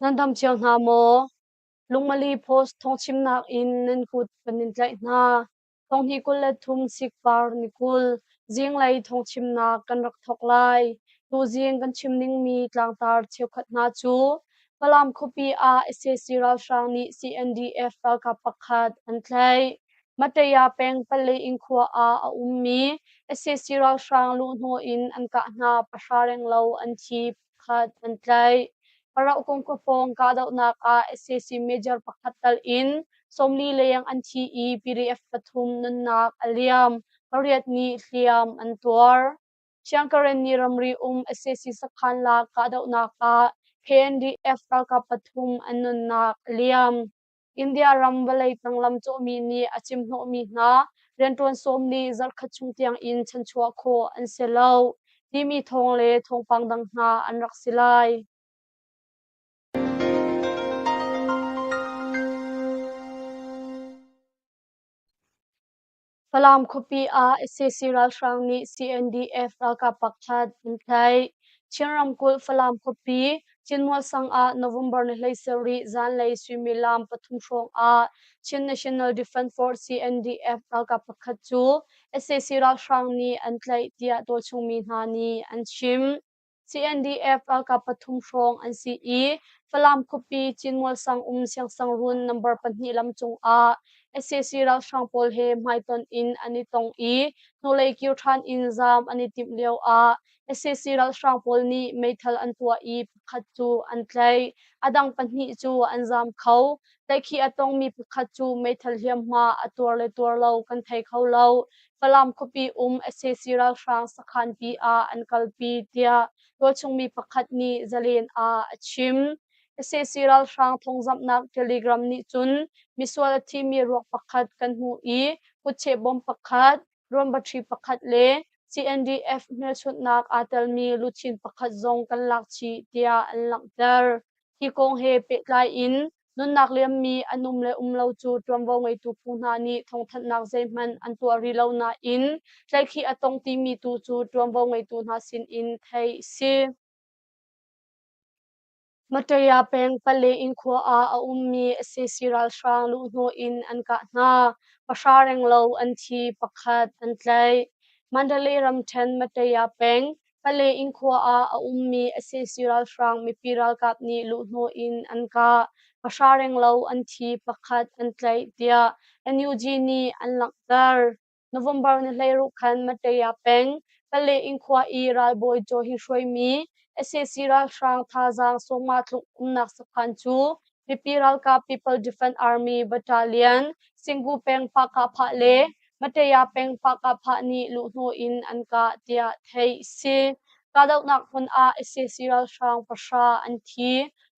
Nan dam cio hna maw? Lungmali post thawngchimnak in nan kut kan in tlaih hna. Thawnghi kul le thum sikvar ni kul, zinglei thawngchimnak kan rak thawk lai. Tuzing kan chim ningmi tlangtar cheukhat hna cu Falam khuapi ah sac ralhrang nih CNDF ralkap pakhat an tlaih. Mateya peng Palle inn khua ah a ummi sac ralhrang luhhnawh in an kah hna pahra renglo an thi. khat an tlaih. Parauh kongkua pawng kahdohnak ah SAC major pakhat tal in sawmli leng an thi i PDF pathum nunnak a liam. Pariat nih hliam an tuar. Siangkaren ni ramri um SAC sakhan lak kahdohnak ah PNDF ralkap pathum an nunnak a liam. India ram vawlei tang lam cawhmi nih a cimhnawhmi hna rianṭuan sawm nih zarhkhat chung tiangin chanchuah khawh an si lo timi thawng le thawngpang dang hna an rak si lai. Falam khuapi ah sac ralhrang nih CNDF ralkap pakhat an tlaih. Chin ramkulh Falam khuapi Chinmuasang ah November ni hlei sarih zanlei suimilam pathum hrawngah Chin National Defence Force CNDF ralkap pakhat cu sac ralhrang nih an tlaih tiah tualchung mi hna nih an chim. CNDF ralkap pathum hrawng an si i Falam khuapi Cinmual sang um siangsangruun number pahnih lam cungah sac ralhrang pawl he hmaitonh in an i tong i hnulei kir ṭhan in zaam an i timh lioah sac ralhrang pawl nih meithal an tuah i pakhat cu an tlaih, a dang pahnih cu an zaam kho. Tlaikhi a tongmi pakhat cu meithal hliamhma a tuar le tuar lo kan thei kho lo. Falam khuapi um sac ralhrang sakhanpi ah an kalpi tiah tualchungmi pakhat nih zalen ah a chim. sac ralhrang thawngzamhnak telegram nih cun misual a thimi ruak pakhat kan hmuh i kutcheh bom pakhat Ruambaṭhi pakhat le CNDF hmelchunhnak aa telmi luchin pakhat zong kan lak chih tiah an langhter. Hi kong he pehtlai in nunnak liammi an um le um lo cu ṭuanvo ngeitu phu hna nih thawngthanhnak zeihmanh an tuah rih lo nain tlaihkhih a tong timi tu cu ṭuanvo ngeitu hna sinin theih a si. Mataya peng pale in khua ah a ummi sac ralhrang luhhnawh in an kah hna, pahra renglo an thi, pakhat an tlaih. Mandalay ramṭhen Mataya peng pale in khua ah a ummi sac ralhrang mipi ralkap nih luhhnawh in an kah, pahra renglo an thi, pakhat an tlaih tiah NUG nih an langhter. November na hleiruk khan Mateya peng, Kalay-in khua i ralbawi caw hi hruaimi sac ralhrang thazaang sawmnga tluk umnak sakhan cu mipi ralkap People Defence Army Battalion, Singhu peng Pakahphah le Mateya peng Pakahphah nih luhhnawh in an kah tiah theih a si. Kahdohnak hmun ah sac ralhrang pahra an thi,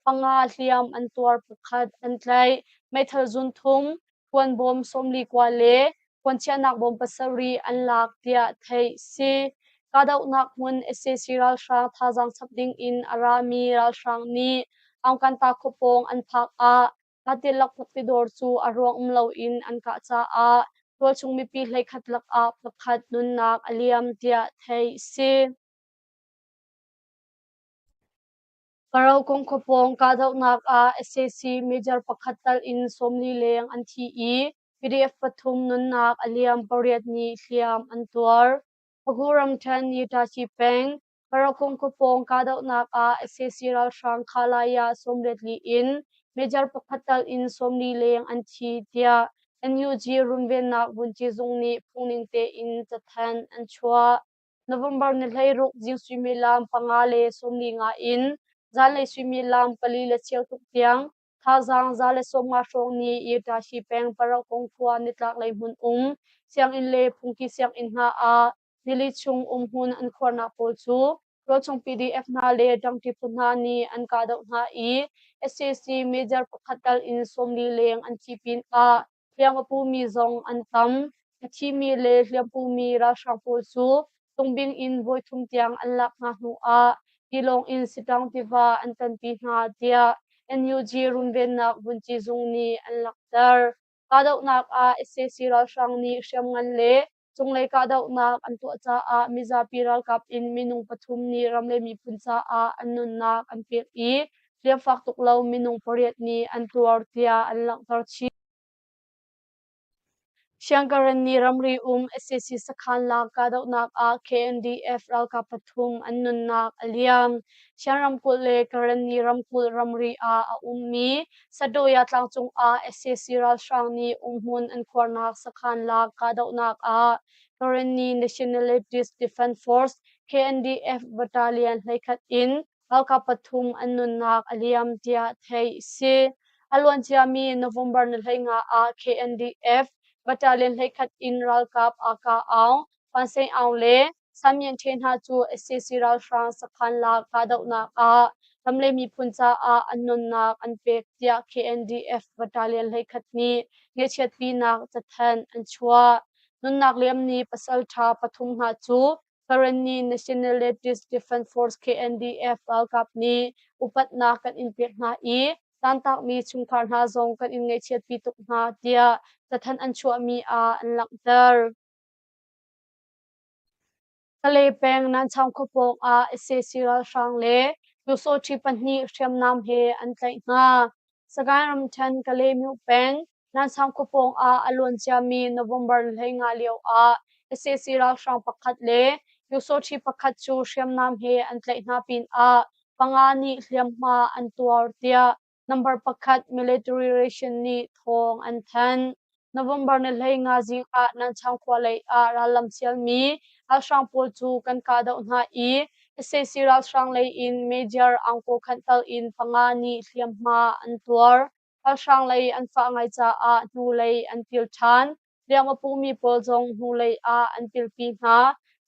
panga hliam an tuar, pakhat an tlaih. Meithal zun thum, Khuanbawm sawmli kua le khuanchiahnak bawm pasarih an lak tiah theih a si. Kahdohnak hmun sac ralhrang thazaang chap ding in a rami ralhrang nih Aungkanta khua pawng an phak ah Lattilak khuapi dawr cu a ruang um loin an kah caah tualchung mipi hleikhat lakah pakhat nunnak a liam tiah theih a si. Karakung khuapawng kahdohnak ah sac major pakhat tal in sawmli leng an thi i PDF pathum nunnak a liam pariat ni hliam an tuar. Phu ramṭhen Nitachi peng Karakung khuapawng kahdohnak ah sac ralhrang Khalaya sawmlet li in major pakhat tal in sawmli leng an thi tiah NUG runvennak vunci zung nih phungning tein cathanh an chuah. November ni hleiruk zing suimilam panga le sawmli nga in zanlei suimilam pali le cheu tluk tiang thazaang za le sawmnga hrawng ni Irtashi peng Paraukong khua nitlaklei hmun um sianginn le phungki sianginn hna ah nili chung umhmun an khuarnak pawl cu rawlchung PDF hna le ṭangṭi phu hna nih an kahdoh hna i SAC major pakhat tal in sawmli leng an ci pin ah Hriangapumi zong an tam. A thimi le hliampumi ralhrang pawl cu Tungbing in voithum tiang an lak hna hnuah tilawng in Sitang tiva an tanpi hna tiah NUG runvennak vunci zung nih an langhter. Kahdohnak ah sac ralhrang nih hriamngan le Cunglei kahdohnak an tuah caah mizapi ralkap in minung pathum nih ram le miphun caah an nunnak an pek i hliamfak tuk lo minung pariat nih an tuar tiah an langhter chih. Siangkaren nih ramri um SAC sakhan lak kahdohnak ah KNDF ralkap pathum an nunnak a liam. Sian ramkulh le Karen nih ramkulh ramri ah a ummi Sadoya tlangcung ah sac ralhrang nih umhmun an khuarnak sakhan la kahdohnak ah Karenni Nationalist Defence Force KNDF battalion hleikhat in ralkap pathum an nunnak a liam tiah theih a si. A luanciami November nihleina ah KNDF battalion hleikhat in ralkap aa kah aung, Phan Sein Aung le Samyin ṭhe hna cu sac ralhrang sakhan lak kahdohnak ah ram le miphun caah an nunnak an pek tiah KNDF battalion hleikhat nih ngeihchiatpinak cathanh an chuah. Nunnak liamni pasalṭha pathum hna cu Farani National Ladies Defence Force KNDF ralkap nih upatnak kan in pek hna i tantakmi chungkhar hna zong kan in ngeihchiatpi tuk hna tiah cathanh an chuahmi ah an langhter. Kale peng Nanchang khua pawng ah sac ralhrang le Pyosawṭhi pahnih hriamnam he an tlaih hna. Sagaing ramṭhen Kalemyo peng Nanchang khua pawng ah a luanciami November ni hleingah lioah sac ralhrang pakhat le Pyosawṭhi pakhat cu hriamnam he an tlaih hna pinah panga nih hliamhma an tuar tiah Number pakhat military ration nih thawng an thanh. November ni hlei nga zik ah Nanchang khua lei ah rallam sialmi ralhrang pawl cu kan kahdoh hna i sac ralhrang lei in Major Angkaw Khanhtal in panga nih hliamhma an tuar. Ralhrang lei an fah ngai caah hnulei an kil ṭhan. Hliam a pumi pawl zong hnulei ah an pilpi hna.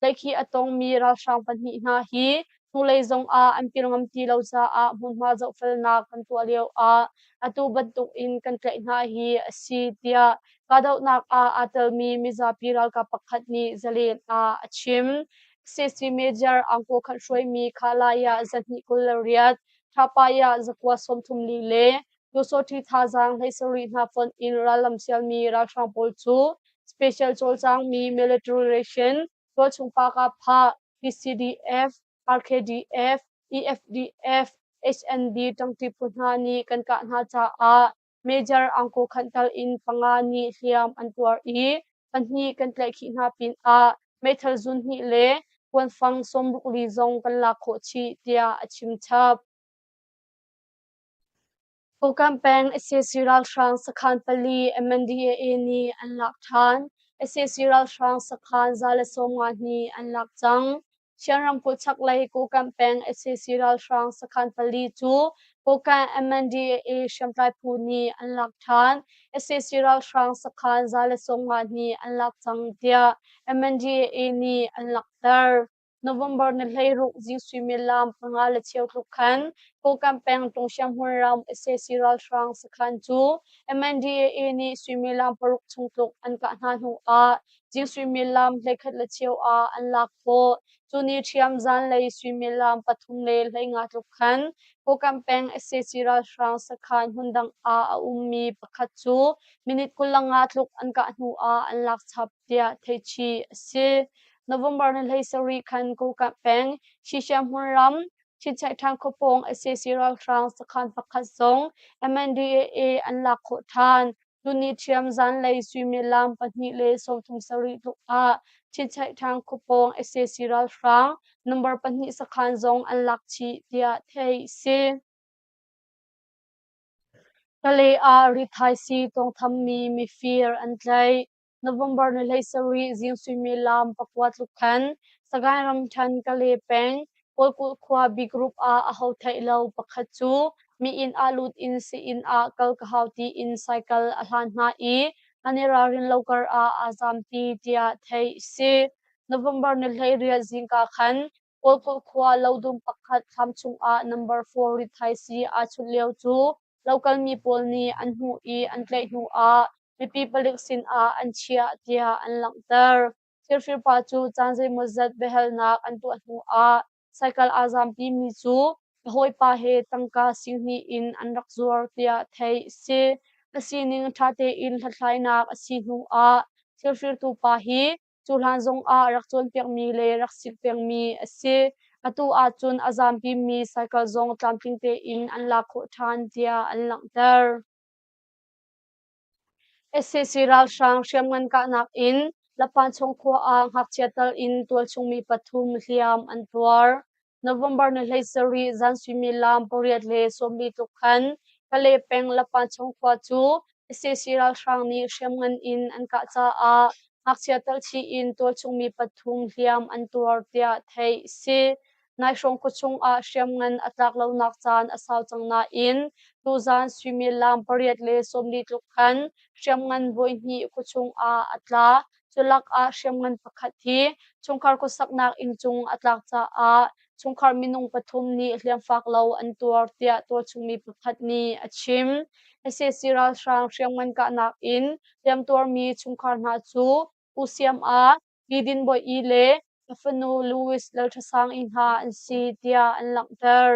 Tlaihkhih a tongmi ralhrang pahnih hna hi hnulei zongah an pil ngam ti lo caah hmunhma zohfelnak kan tuah lio ah atu bantuk in kan tlaih hna hi a si tiah kahdohnak ah aa telmi mizapi ralkap pakhat nih zalen ah a chim. CC Major Angko Khan hruaimi Khalaya zahnih kul le riat, Thapaya zakua sawmthum li le Lusawṭhi thazaang hlei sarih hna fonh in rallam sialmi ralhrang pawl cu special cawlcangmi military ration, tualchung pakap phah, PCDF, RKDF, EFDF, HND ṭangṭi phu hna nih kan kah hna caah Major angko khan tal in panga nih hliam an tuar i pahnih kan tlaihkhih hna pinah meithal zun hnih le kuanfang sawm ruk li zong kan lak khawh chih, tiah a chim chap. Fukam peng sac ralhrang sakhan pali MNDAA nih an lak ṭhan. sac ralhrang sakhan za le sawmnga nih an lak cang. Shan ramkulh chaklei Kokam peng sac ralhrang sakhan pali cu Kokam MNDAA hriamtlai phu nih an lak ṭhan. sac ralhrang sakhan za le sawmnga nih an lak cang tiah MNDAA nih an langhter. November ni hleiruk zing suimilam panga le cheu tluk khan Kokam peng Tung Sianghmun ram sac ralhrang sakhan cu MNDAA nih suimilam paruk chung tluk an kah hna hnu ah zing suimilam hleikhat le cheu ah an lak khawh. Cu ni ṭhiam zanlei suimilam pathum le hleinga tluk khan Kokam peng sac ralhrang sakhan hmundang ah a ummi pakhat cu minute kul le nga tluk an kah hnu ah an lak chap. tiah theihchih a si. November ni hlei sarih khan Kokap peng Shishiahmun ram Chinchaihtang khuapawng sac ralhrang sakhan pakhat zong MNDAA an lak khawh ṭhan. Tuni ṭhiam zanlei suimilam pahnih le sawmthum sarih tluk ah Chinchaihtang khuapawng sac ralhrang number pahnih sakhan zong an lak chih tiah theih a si. Kalay ah rithaisii tawngthammi mifir an tlaih. November ni hlei sarih zing suimilam pakua tluk khan Sagaing ramṭhan Kale peng Pawlkulh khua B group ah a ho theih lo pakhat cu mi inn ah lut in sii-inn ah kal ka hau tiin cycle a hlan hna i an i ralrin lo kar ah aa zaam pi tiah theih a si. November ni hlei riat zingka khan Kawlkulh khua lodung pakhat thlam chungah number four rithaisi aa chunh lio cu lokalmi pawl nih an hmuh i an tlaih hnuah mipi palik sinah an chiah tiah an langhter. Thirfirpa cu caan zeimawzat biahalnak an tuah hnuah cycle aa zampimi cu a hawipa he tangka singhnih in an rak zuar tiah theih a si. A sining ṭha tein hlathlainak a si hnuah thirfirtu pa hi Cu hlan zongah rak cawnpiakmi le rak sik pengmi a si. Atu ahcun a zaanpimi cycle zong tlamtling tein an lak khawh ṭhan tiah an langhter. SCC ralhrang hriamngan kahnak in Lapanchung khua ah ngakchia tal in tualchung mi pathum hliam an tuar. November ni hlei sarih zan suimilam pariat le sawmmi tluk khan Kale peng Lapachung khua cu sac ralhrang nih hriamngan in an kah caah ngakchia talchi in tualchungmi pathum hliam an tuar tiah theih a si. Naihrawng khuachung ah hriamngan a tlak lonak caan a sau cang nain tuzan suimilam pariat le sawmni tluk khan hriamngan voihnih khuachung ah a tla. Culakah hriamngan pakhat hi chungkhar khuasaknak inncung a tlak caah chungkhar minung pathum nih hliamfak lo an tuar tiah tualchungmi pakhat nih a chim. sac ralhrang hriamngan kahnak in hliamtuarmi chungkhar hna cu Pu Siam Ah, Pi Din Bawi Yi le ka fanu Louis Lalṭhasang Yi hna an si tiah an langhter.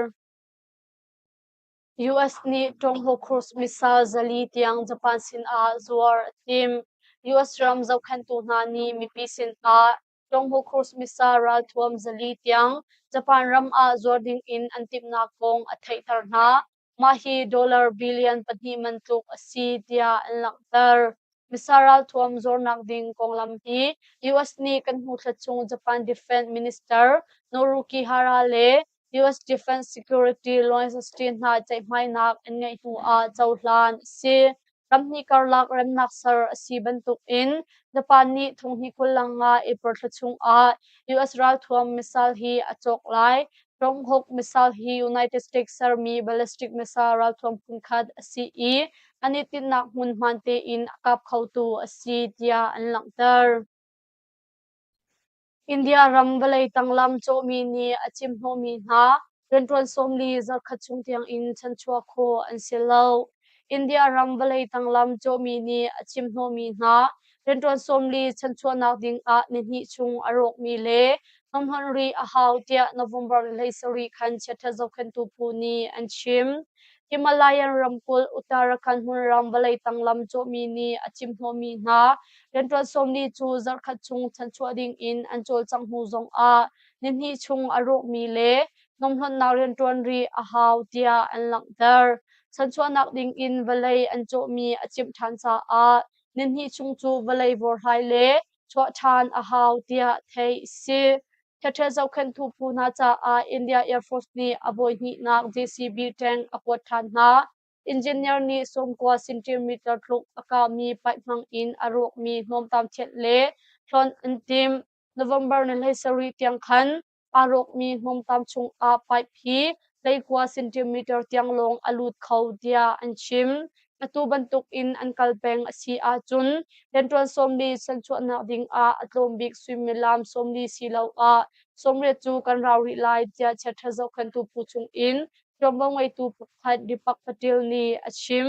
US nih Tom Hawkhurst missile zali tiang Japan sinah zuar a thim. US ram zohkhenhtu hna nih mipi sinah Tom Hawkhurst missile ralthuam zali tiang Japan ram ah zuar ding in an timhnak kong a theihter hna. Mah hi dollar billion pahnih man tluk a si tiah an langhter. Missa ralthuam zornak ding konglam hi US nih kan hmuthlat chung Japan Defense Minister Norukihara le US Defense Security Lois Austin hna ceihmainak an ngeih hnu ah cohlan a si. Ramhnih karlak remnak ser a si bantuk in Japan nih thonghni kul lang nga April thla chung ah US ralthuam missile hi a cawk lai. Ronghawk missile hi United States sermi ballistic missile ralthuam phunkhat a si i an i tinhnak hmun hmaan tein a kap khotu a si tiah an langhter. India ram vawlei tanglam cawhmi nih a cimhnawhmi hna rianṭuan sawmli zarhkhat chung tiangin chanchuah khawh an si lo. India ram vawlei tanglam cawhmi nih a cimhnawhmi hna rianṭuan sawmli chanchuahnak dingah ni hnih chung a rawkmi le hnawmhawnh rih a hau tiah November ni hlei sarih khan chiaṭha zohkhenhtu phu nih an chim. Himalayan ramkulh Uttarakhand hmunrang vawlei tang lam cawhmi nih a chimhnawhmi hna rianṭuan sawmli cu zarhkhat chung chanchuah dingin an cawlcangh hnu zongah ni hnih chung a rawkmi le hnawmhnawnnak rianṭuan rih a hau tiah an langhter. Chanchuahnak dingin vawlei an cawhmi a chimh ṭhan caah Na hnih chung cu vawlei vorhlai le chuah ṭhan a hau tiah theih a si. Ṭheṭhe zohkhenhtu phu hna caah India Air Force nih a voihnihnak JCB tank a kuat ṭhan hna. Engineer nih sawmkua centimeter tluk a kahmi paih hmang in a rawkmi hnawmtam thianh le hlonh an timh. November ni hlei sarih tiang khan aa rawkmi hnawmtam chungah pipe hi leikua centimeter tiang lawng a lut kho tiah an chim. Atu bantukin an kal peng a si ahcun lentuan sawmli san chuahnak dingah a tlawm bik suimilam sawmli siloah sawmriat cu kan rau rih lai tiah chiaṭha zohkhenhtu phu chungin ṭuanvo ngeitu pakhat Deepak Patil nih a chim.